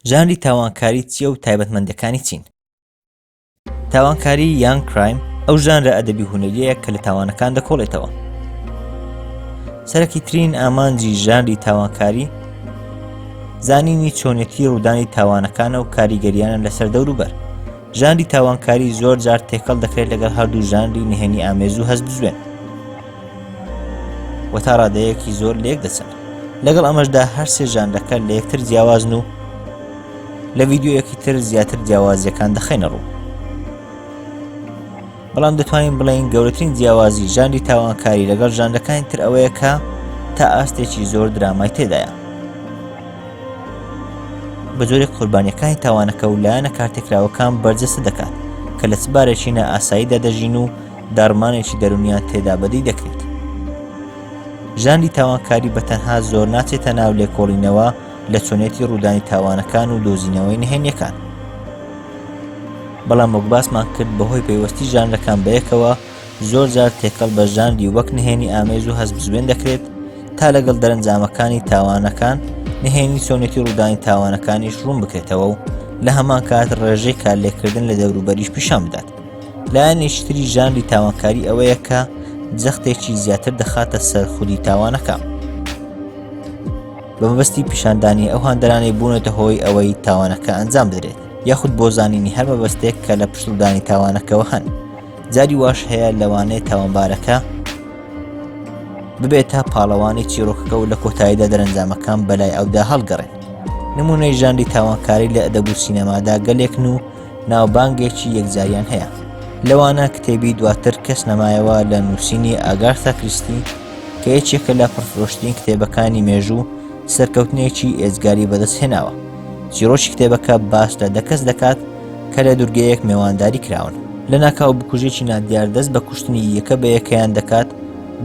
ژانری تاوانکاری چییە و تایبەتمەندەکانی چین تاوانکاری یان کرایم ئەو ژانرە ئەدەبی هونەریەیە کە لە تاوانەکان دەکۆڵێتەوە سەرەکی ترین ئامانجی ژانری تاوانکاری زانینی چۆنێتی ڕوودانی تاوانەکانە و کاریگەریانە لەسەر دەوروبەر ژانری تاوانکاری زۆر جار تێکەڵ دەکرێت لەگەڵ هەردوو ژانری نهێنی ئامێز و هەست بزوێن و تا ڕادەیەکی زۆر لێک دەچن لەگەڵ ئەمەشدا هەر سێ ژانرەکە لە یەکتر جیاوازن و لە ڤیددیوەکی تر زیاتر جیاوازیەکان دەخینە ڕوو بەڵام دەتوانین بڵین گەورەترین جیاوازی ژانری تاوانکاری لەگەڵ ژانرەکانی تر ئەوەیە کە تا ئاستێکی زۆر درامای تێدایە بە جۆرێک قوربانیەکانی تاوانەکە و لایەنە کارتێکراوەکان بەرجەسە دەکات کە لە چبارێکی نە ئاساییدا دەژین و داڕمانێکی دەرونیان تێدا بەدی دەکرێت ژاندی تاوانکاری بە تەنها زۆر ناچێتە ناو لێکۆڵینەوە لە چۆنێتی ڕوودانی تاوانەکان و دۆزینەوەی نهێنیەکان بەڵام وەک باسمان کرد بەهۆی پەیوەستی ژانرەکان بەیەکەوە زۆر جار تێکەڵ بە ژاندی وەک نهێنی ئامێز و هەزبزوێن دەکرێت تا لەگەڵ دەرەنجامەکانی تاوانەکان نهێنی چۆنێتی ڕوودانی تاوانەکانیش ڕوون بکرێتەوە و لە هەمان کات ڕێژەی کارلێکردن لە دەوروبەریش پیشان بدات لایەنێکی تری ژانری تاوانکاری ئەوەیە کە جەختێکی زیاتر دەخاتە سەر خودی تاوانەکە بە مەبەستی پیشاندانی ئەو هاندەرانی بوونەتە هۆی ئەوەی تاوانەکە ئەنجام درێت یاخود بۆ زانینی هەر مەبەستێک کە لە پشتدانی تاوانەکەەوە هەن جاری واش هەیە لەوانەیە تاوانبارەکە ببێت تا پاڵەوانی چیرۆکەکە و لە کۆتاییدا دەرەنجامەکان بەلای ئەودا هەڵگەڕێن نمونەی ژاندی تاوانکاری لە ئەدەبوو سینەمادا گەلێکن و ناوبانگێکی یەکجاریان هەیە لەوانە کتێبی دواتر کەس نەمایەوە لە نووسینی ئاگارسا کریستی کە یەکێکە لە پڕفرۆشترین کتێبەکانی مێژوو سەرکەوتنێکی ئێزگاری بەدەست هێناوە چیرۆکی کتێبەکە باس لە دەکەس دەکات کە لە دورگەیەک مێوانداری کراون لە ناکاو بکوژێکی نادیار دەست بە کوشتنی یەکە بە یەکەیان دەکات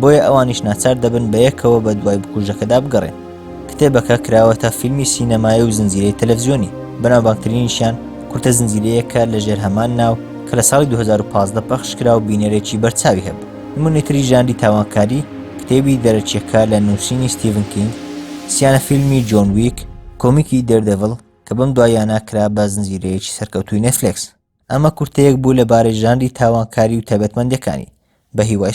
بۆیە ئەوانیش ناچار دەبن بە یەکەوە بە دوای بکوژەکەدا بگەڕێن کتێبەکە کراوەتە فیلمی سینەمایی و زنجیرەی تەلەڤزیۆنی بەناوبانگترینیشیان کورتە زنجیرەیەکە لە ژێر هەمان ناو کە لە ساڵی 2015 پەخش کرا و بینەرێکی بەرچاوی هەبوو نموونەی تری ژانری تاوانکاری کتێبی دەرەکیەکە لە نووسینی ستیڤن کینگ سیانە فیلمی جۆن ویک کۆمیکی دێردێڤڵ کە بەم دواییانە کرا بە زنجیرەیەکی سەرکەوتووی نێتفلێکس ئەمە کورتەیەک بوو لەبارەی ژانری تاوانکاری و تایبەتمەندەکانی بە هیوای